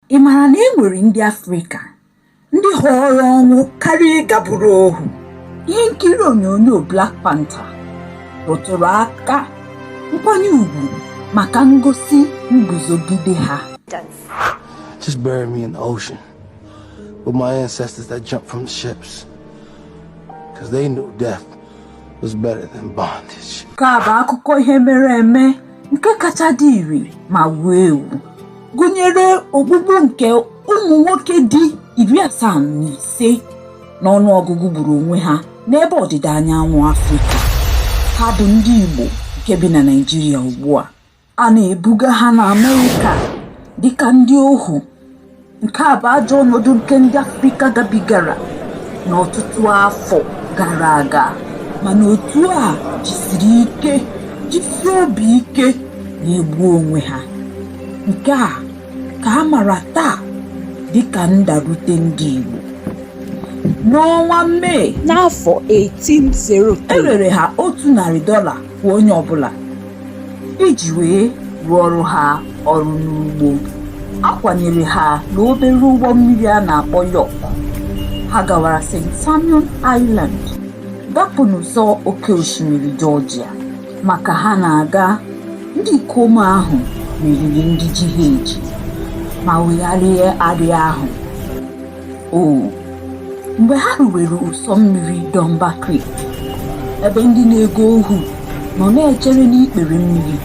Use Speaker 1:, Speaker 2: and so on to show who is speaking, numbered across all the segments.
Speaker 1: Ị mara na e nwere ndị Afrịka ndị họọrọ ọnwụ karịa ịga bụrụ ohu? Ihe nkiri onyonyo Black Panther rụtụrụ aka nkwanye ugwu maka ngosi nguzogide ha.
Speaker 2: Just bury me in the ocean with my ancestors that jumped from the ships. Because they knew death was better than bondage. Nke a bụ akụkọ
Speaker 1: ihe mere eme nke kacha dị ire ma wuo ewu gụnyere ogbugbu nke ụmụ nwoke dị iri asaa na ise n'ọnụ ọgụgụ gburu onwe ha n'ebe ọdịda anyanwụ Afrịka ha bụ ndị Igbo nke bi na Naịjirịa ugbu a a na-ebuga ha na Amerịka dịka ndị ohu nke a bụ ajọ ọnọdụ nke ndị afrịka gabigara n'ọtụtụ afọ gara aga mana otu a jisiri ike jisie obi ike na-egbu onwe ha nke a ka a mara taa dịka ndarute ndị igbo n'ọnwa mee n'afọ 1803 e rere ha otu narị dọla kwa onye ọbụla iji wee rụọrọ ha ọrụ n'ugbo a kwanyere ha n'obere ụgbọ mmiri a na-akpọ York ha gawara St Simon Island gapụ n'ụzọ oke osimiri jọjia ma ka ha na-aga ndị ikom ahụ meriri ndị ji ha eji ma wegharịa arịa ahụ mgbe ha ruwere ụsọ mmiri Dunbar Creek ebe ndị na-ego ohu nọ na-echere n'ikpere mmiri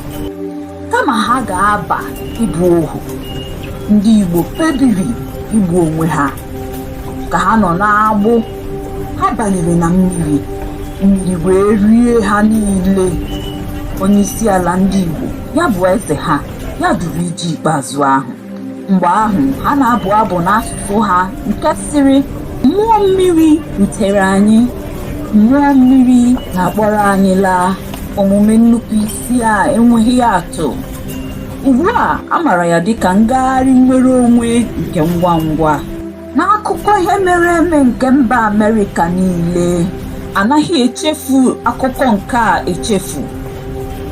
Speaker 1: kama ha ga-aba ịbụ ohu ndị Igbo kpebiri igbu onwe ha ka ha nọ n'agbụ ha banyere na mmiri mmiri wee rie ha niile onye isi ala ndị Igbo ya bụ eze ha ya duru ije ikpeazụ ahụ mgbe ahụ ha na-abụ abụ n'asụsụ ha nke sịrị mmụọ mmiri dutere anyị mmụọ mmiri na-akpọrọ anyị laa omume nnupụ isi a enweghị atụ ugbu a a mara ya dịka ngagharị nnwere onwe nke ngwa ngwa n'akụkọ ihe mere eme nke mba amerịka niile anaghị echefu akụkọ nke a echefu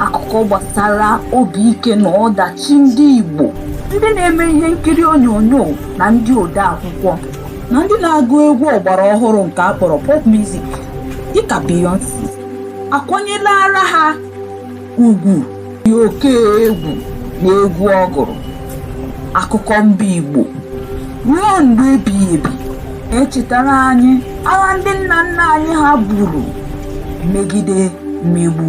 Speaker 1: akụkọ gbasara obi ike na ọdachi ndị igbo ndị na-eme ihe nkiri onyonyo na ndị ode akwụkwọ na ndị na-agụ egwu ọgbara ọhụrụ nke a kpọrọ pop music dịka Beyonce akwanyelara ha ugwu dị oke egwu n'egwu ọ gụrụ akụkọ mba igbo ruo mgbe ebighị ebi echetara anyị agha ndị nna nna anyị ha buru megide mmegbu